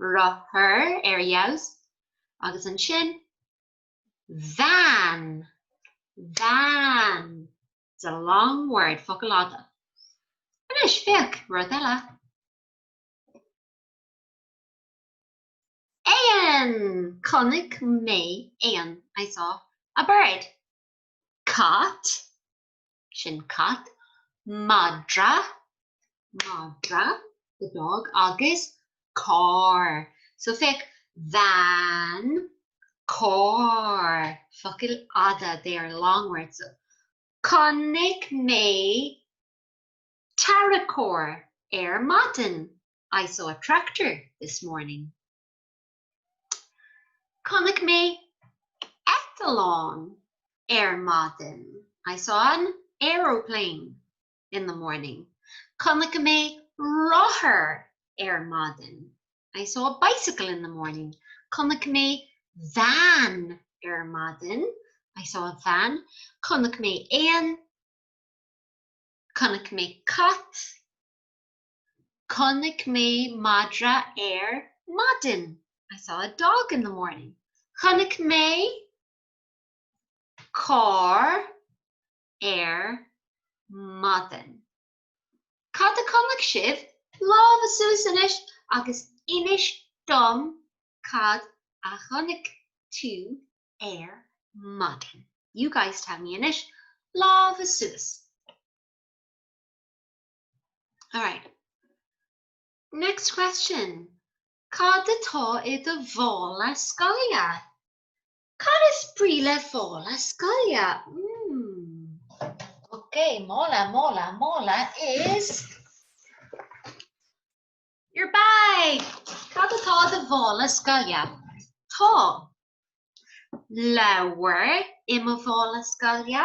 rothar ar fheabhas agus ansin van, van, it's a long word, focal fhada. Anois, féach, rud eile. Éan! Chonaic mé éan, I saw a bird. Cat! sin cat, madra, madra, the dog, agus carr, so féach van, carr, focail fhada, they are long words, so Chonaic mé tarracóir ar maidin, I saw a tractor this morning. Chonaic mé eitleán ar maidin. I saw an aeroplane in the morning. Chonaic mé rothar ar maidin. I saw a bicycle in the morning. Chonaic mé veain ar maidin. I saw a van. Chonaic mé éan. Chonaic mé cat. Chonaic mé madra ar maidin. I saw a dog in the morning. Chonaic mé carr ar maidin. Cad a chonaic sibh? Lámha suas anois agus inis dom cad a chonaic tú ar maidin. You guys tell me anois. Lámha suas. All right. Next question. Cad atá i do mhála scoile? Cad is brí le mála scoile? Mmm. Ok, mála, mála, mála is your bag. Cad atá i do mhála scoile? Tá leabhar i mo mhála scoile.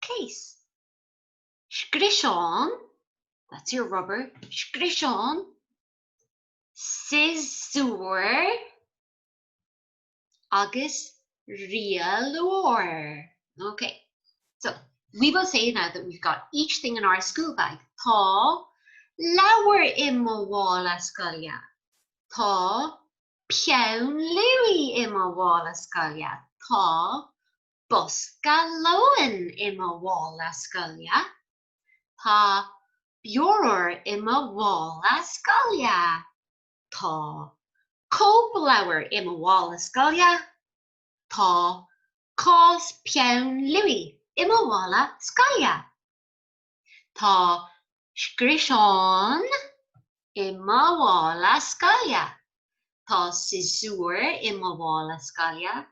case. scriosán, that's your rubber, scriosán, siosúr agus rialóir, ok, so we will say now that we've got each thing in our school bag tá leabhar i mo mhála scoile tá peann luaidh i mo mhála scoile tá bosca lóin i mo mhála scoile. Tá bioróir i mo mhála scoile. Tá cóipleabhar i mo mhála scoile. Tá cás peann luaí i mo mhála scoile. Tá scriosán i mo mhála scoile. Tá siosúr i mo mhála scoile.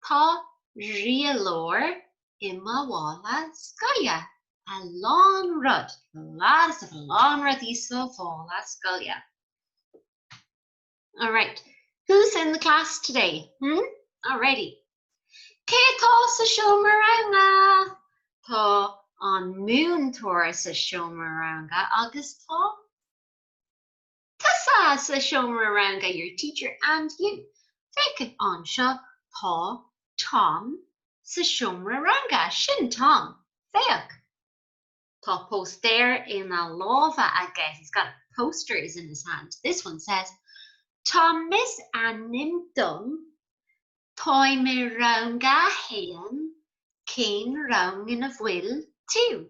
Tá rialóir i mo mhála scoile. a lán rud, lots of a lán rudaí sa mhála scoile. Alright, who's in the class today? Hmm? Alrighty. Cé atá sa seomra ranga? Tá an múinteoir sa seomra ranga agus tá Tusa sa seomra ranga your teacher and you féach anseo tá Tom sa seomra ranga sin Tom, féach Tá póstaer ina lámha aige he's got posters in his hand this one says Tom is ainm dom táim i rang a haon cén rang ina bhfuil tú?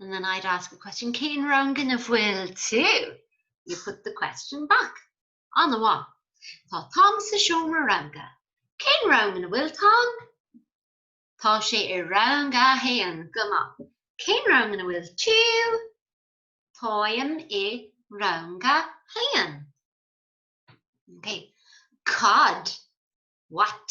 And then I'd ask a question, Keen Rangan of Will too. You put the question back. On the one. Tá Tom sa seomra ranga. Cén rangan a bhfuil Tom? Tá sé i rang a héan goma. Cén rangan a bhfuil tú? Táim i ranga héan. Okay. Cod. What?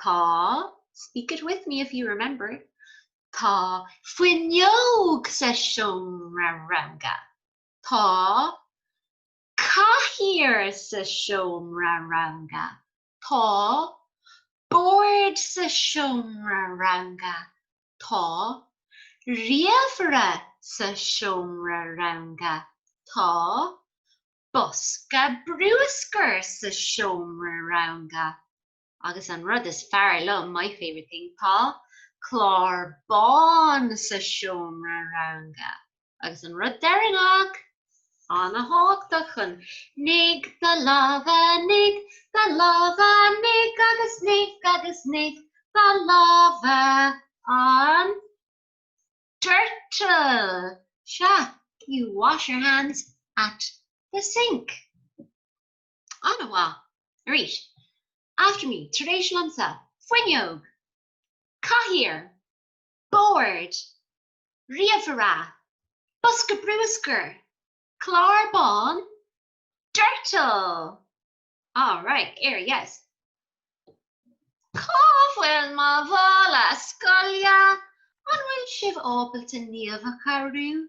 Tá, speak it with me if you remember, Tá fuinneog sa seomra ranga. Tá cathaoir sa seomra ranga. Tá bord sa seomra ranga. Tá ríomhaire sa seomra ranga. Tá bosca bruscair sa seomra ranga. agus an rud is fearr liom, my favourite thing, tá clár bán sa seomra ranga agus an rud deireanach, an-tábhachtach chun Nigh do lámha, nigh do lámha, nigh agus nigh agus nigh do lámha an doirteal! Sea, you wash your hands at the sink. An-mhaith! Right, after me, tar éis liomsa, fuinneog! cathaoir! bord! ríomhaire! bosca bruscair! clár bán! doirteal! All right, here, yes! Cá bhfuil mo mhála scoile? An bhfuil sibh ábalta naomh a chabhrú?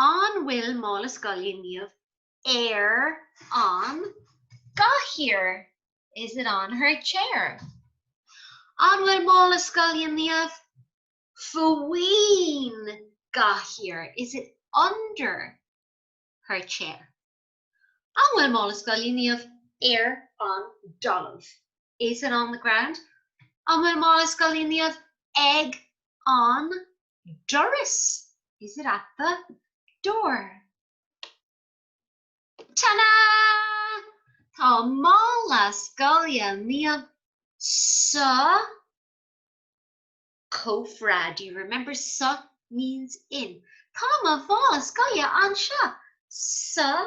An bhfuil mála scoile Niamh ar an gcathaoir? Is it on her chair? An bhfuil mála scoile Niamh faoin gcathaoir? Is it under her chair? An bhfuil mála scoile Niamh ar an dtalamh? Is it on the ground? An bhfuil mála scoile Niamh ag an doras? Is it at the door? Tada! Tá mála scoile Niamh sa chófra. Do you remember sa means in? Tá mo mhála scoile anseo sa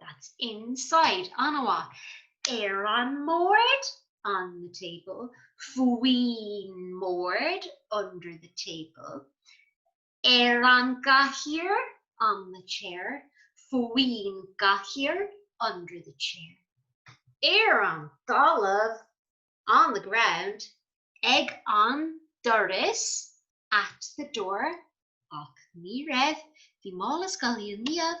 That's inside an-mhaith. Ar an mbord on the table. Faoin mbord under the table. Ar an gcathaoir on the chair. Faoin gcathaoir under the chair. Ar an dtalamh on the ground. Ag an doras at the door. Ach ní raibh, bhí mála scoile Niamh.